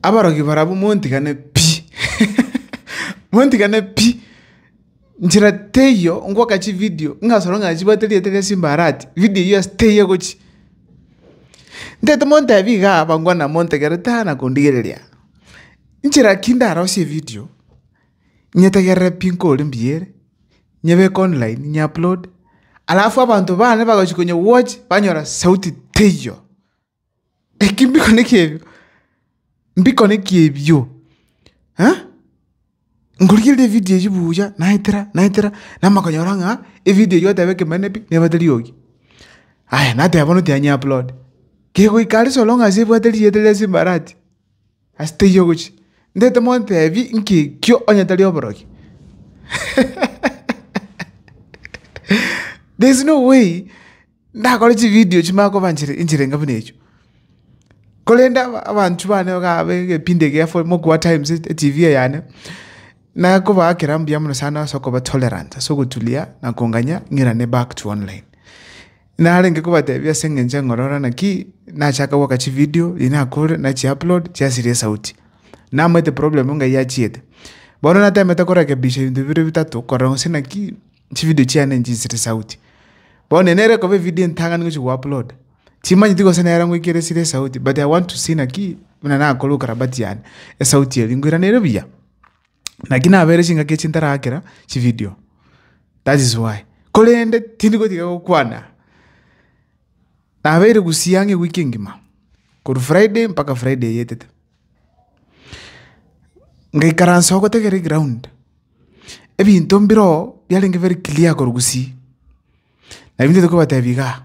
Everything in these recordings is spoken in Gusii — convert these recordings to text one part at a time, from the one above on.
Abarogi barabwo montigane pi, montigane pi, nchera teiyo ngoka chividio ng'a soro ng'a chibwate erieta ria simba arati, vidio eyio ase teiyo egochia. Ntaete montebi iga abangwa namontegerete aa na kondigereria. Nchera ki ndarosie evidio, nyetegerere pi nkore mbuya ere, nyebeke online ny'upload, alafu abanto bane bagochi konyigwatch banyora sauti teiyo. Eki mbiko neki ebio, mbiko neki ebio eh? Nkorigereria evidio eyio buya naetera naetera namanya konyora ng'a evidio eyio gwateba ekemanera pi nebwate eriogi. Aya nateba bono tianyeupload, kegoika are solong as ebwate rieta riria ase embarati. Ase teiyo ogochia, ndete montebi nki ekio onye tari oborokia? There is no way ndakore chividio chimanye koba enchera enchera enga buna echio. Korende abanchwa bane iga abe egepindi egia for mogoa times etv eye yane, nakobaa kera mbuya mono sana ase okoba tolerant ase ogoturia na konganya ng'irane back to online. Narenge kobatebia ase engencho eng'ororo naki nachaka goaka chividio riria nakore na chiupload chiasiria esauti. Namaete problem ng'ai achiete. Bono natemete korekebisha ebinto bibere bitato korora gose naki chividio chiane nchinsire esauti. Bono eye nere ekoba evidio entang'ani gochia gouploada, chimanyeti gose nere ngoikera esire esauti but I want to see naki buna nakore ukarabati yane, esauti eria ngoirane ere buya. Naki nabeire chingaki echi ntarakera chividio that is why. Korende tindi gotiga gokwana, nabeire gusii ang'e ewiki engima, korwa friday mpaka friday eyetete. Ngaikaransa oo gotegerera egraund, ebinto mbire oo biarenge very clear korwa gusii, nabi ntete kobatebi igaa.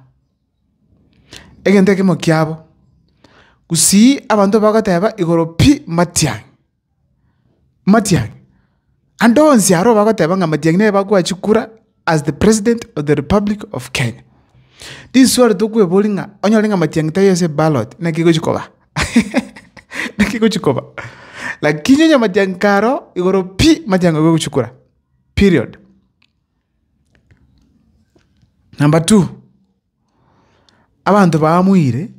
Egento ekemo kiabo, gusii abanto bagoteba igoro pi matiang'. Matiang'i. Ande onsi aroo bagoteba ng'a Matiang'i nere bakwachia kura as the president of the republic of Kenya. Riswali tokweboria ng'a onyore ng'a Matiang'i taiyo ase ballot naki egochia koba? Naki egochia koba? Lakini onye Matiang'i karoo, igoro pi, Matiang'i obe ogochia kura, period. Number two, abanto baamoire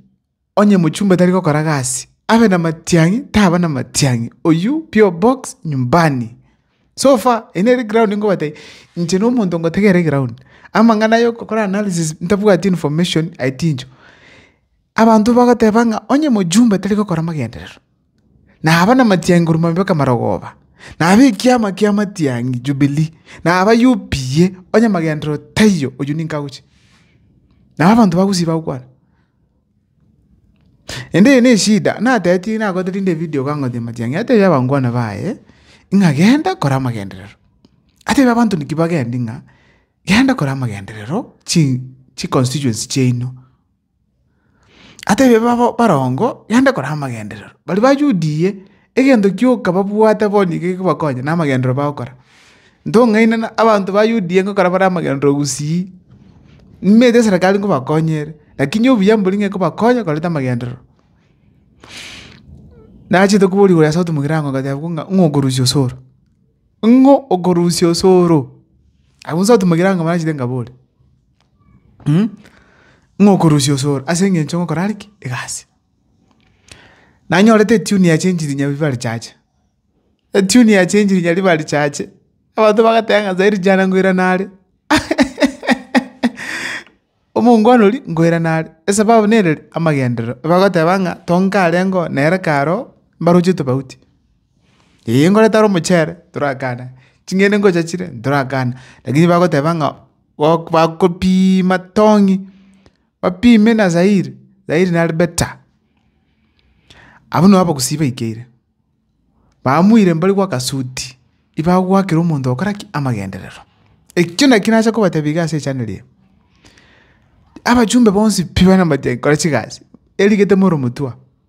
Onye mochumba tari gokora gasi, abe na matiang'i taba na matiang'i, oyio PO box nyumbani. So far eye nere ground nkobate inche na omonto ngotegerera eground. Amang'ana aya okokora analysis ntabwati information aye tincho. Abanto bagoteba ng'a onye mochumba tari gokora amagenderero. na aba namatiangeru mabe k'amarogoba, na abe ekiama ki'amatiang'i, Jubilii, na aba UPA, onye amagenderero taiyo, oyio ninka agochia. Nabo abanto ba Gusii bagokwana, Ende eye neshida, natetirie nagoteteria David ogangoteria amatiang'i, atebia abangwana baye, ng'a genda kora amagenderero. Atebia abanto naki bagende ng'a, genda kora amagenderero chi chiconstituency chiaino. Atebia babo barongo, gende kora amagenderero. Baria bajudie, egento kioka babwate bonye gekobakonya namagenderero bagokora. Ntong'aine na abanto ba UDA ngokora bare amagenderero gusii, nimanyete eserekari nkobakonya ere, lakini obuya mbori ng'a ekobakonya korenta amagenderero. Nachete koboria igoro ya sauti mogirango ngatebiwa ng'a ng'o okorusia osoro, ng'o okorusia osoro, abwo sauti mogirango barachete ngabore. ng'a okorusia osoro ase eng'encho ngokora are ki? Egasi. Nanyorete etuni yachenchiri onye ribare richache, etuni yachenchiri onye ribare richache, abanto bagateba ng'a nyasae rijara ngoirane are omongwana oria ngoirane are, esababu nere ri, amagenderero. Bagoteba ng'a tonka are ngoo nere kare oo, mbaroche tofauti. Ee, nkore tare omochere, torakane, ching'ende ngocha chire, ntorakane. Lakini bagoteba ng'a gok bakopiima tong'i, bapime na zairi, zairi nare better. Abwo nabo abagusii baikeire, bamoire mbare gwa akasuti, ibagoakera omonto ogokora ki? Amagenderero. Ekio nakio nase kobatebia iga ase echaneli eye, abachumbe bonsi pi bana amache nkore chigasi, erigete more omotwe oo.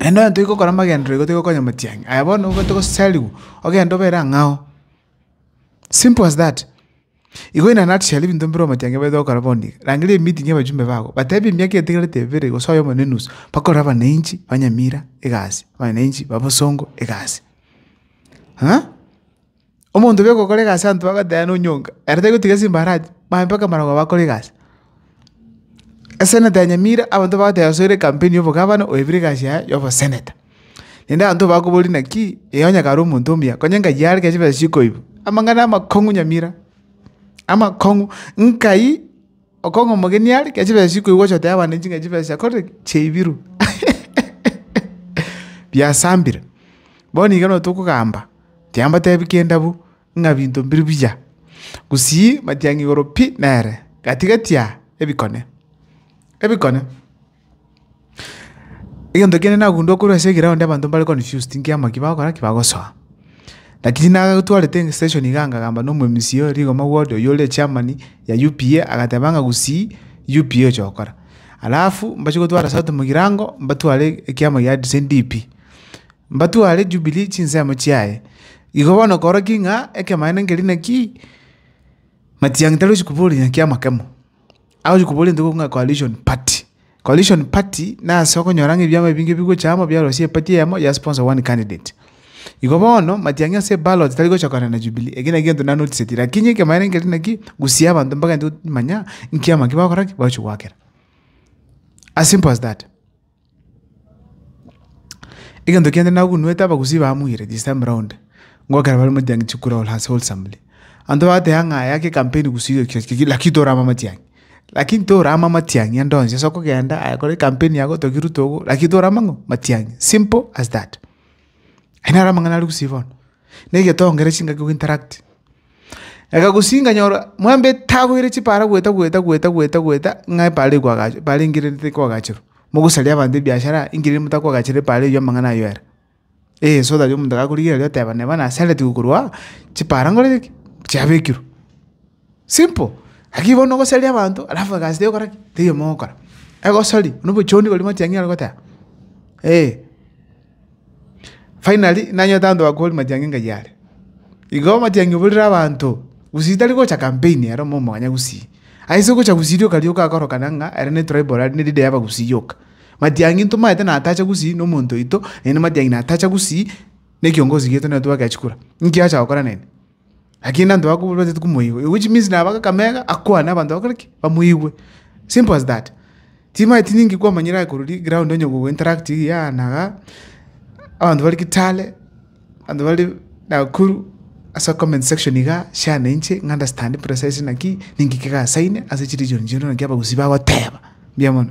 Naende onye tigokora amagenderero igo tigokonya omtiang'i, aye bono obwate gosariwa ogende obere ang'e ao, simple as that. Igo inanachi chiaria ebinto mbire omtiang'i obaete gokora bono iga, rangeria emeeting ya abajumbe bago, batebi emiaka etigarete ebere gose oyomo na enusu, bakore abananchi ba Nyamira egasi, abananchi ba Bosongo egasi, ng'a. Omonto oria ogokora egasi abanto bagoteba nonyonka, ere tari gotiga chimbarati, mambia mpaka amarabwo aba akore egasi. Eseneta ya Nyamira, abanto bagoteba osoire campaign ya obogavana, oebire egasi yaye ya oboseneta. Naende abanto bakoboria naki, ee onye kare omonto omuya, konya nkayi yare ekenyoro chikoiba. Amang'ana amakong'u Nyamira, amakong'u, nkayi. Okong'u omogeni are, ekiagera chibesa chiria koigwa ochoteba abana echi ng'a chibesa chiakorire ki? Chiaibirwe. Biasambire. Bono iga nabo tokogamba, tiambatebi kende abwo, ng'a binto mbire buya. Gusii, matiang'i igoro pi nere, gati gati aa, ebikone. Ebikone. Egento kiane nagundua korwa ase egeroundi abanto mbare confused nkiama ki bagokora ki bagosoa. Lakini nagotwarete eng' session iga nkagamba na omwemisi o rigoma ward oyio ore chairman ya UPA agateba ng'a gusii UPA oche gokora. Alafu mbachie gotwara sauti mogirango mbatware ekiama gia RCDP. Mbatware Jubilee chinsemo chiaye. Igo bono koroki ng'a ekemanero nkeria naki, Matiang'i tari ochi koboria nyakiama kemo. Agochia koboria intwe ng'a coalition party. Coalition party nase okonyora ng'a ebiama ebinge bigocha amo biarosie epati eyemo ya sponsor one candidate. Igo bono, matiang'i ase eballot tari gochokana na Jubilee, ekio naki egento nanoticeti lakini ekemanero nkere naki, gusia abanto mpaka intwe manya nkiama ki bagokora ki, bagochia goakera. As simple as that. Egento kende nagunwete abagusii bamuire this time round ngokera bare motiangi chikura all has wholesomely. Abanto bagotebi buna ng'a yake campaign gusii gaki gaki gaki lakini torama matiangi. Lakini torama matiangi ande onsi ase okogenda aye kore campaign yago otogie ruto ogo lakini torama ng'o matiangi simple as that. Aye naro amang'ana are gusii bono. Negetongera chingaki go interact. Egagusia nganyora mwamba etagoire chipaara goeta goeta goeta goeta goeta ng'a epaara eye koagache epaara engire nete koagacherwa. Mogosaria abanto ebiashara engire ere motakoagachere epaara eywo amang'ana aywo ere. Eeh so tari omonto gakorigia riria oteba neba nasareti gokorwa aa, chipaara nkorete ki? chiabekirwe. Simple, lakini bono ogosaria abanto alafu egasi teri gokora ki? teri omogokora. Egosoria, nobochoondi korwa motiang'i are goteba, eeh. Finally nanyete abanto bakoboria matiang'i ng'a yare. Igo matiang'i oborere abanto, gusii tari gocha campaign ere omomwanya gusii. Aye ase ogocha gusii rioka rioka akorokana ng'a ere ne tribal aria ne leader ya abagusii yoka. Matiang'i ntomaete natache gusii na omonto oito, naende matiang'i natacha gusii na ekiongozi gieto nere twagachikura. Inki acha gokora nere? Lakini nabo abanto bakwo batagete komoigwa, which means nabo agaka mega akwane abanto bakore ki? Bamoigwe. Simple as that. Timanyeti ninki kwamanyire aye korwa ri ground onye gogo interact igi aa na gaa, abanto bare Kitale, abanto bare Nakuru, ase comment section igaa, share na inche ng'a understand precisely naki, ninki kegasaine ase chi region chiaito naki abagusii bagoteba. Mbuya mono.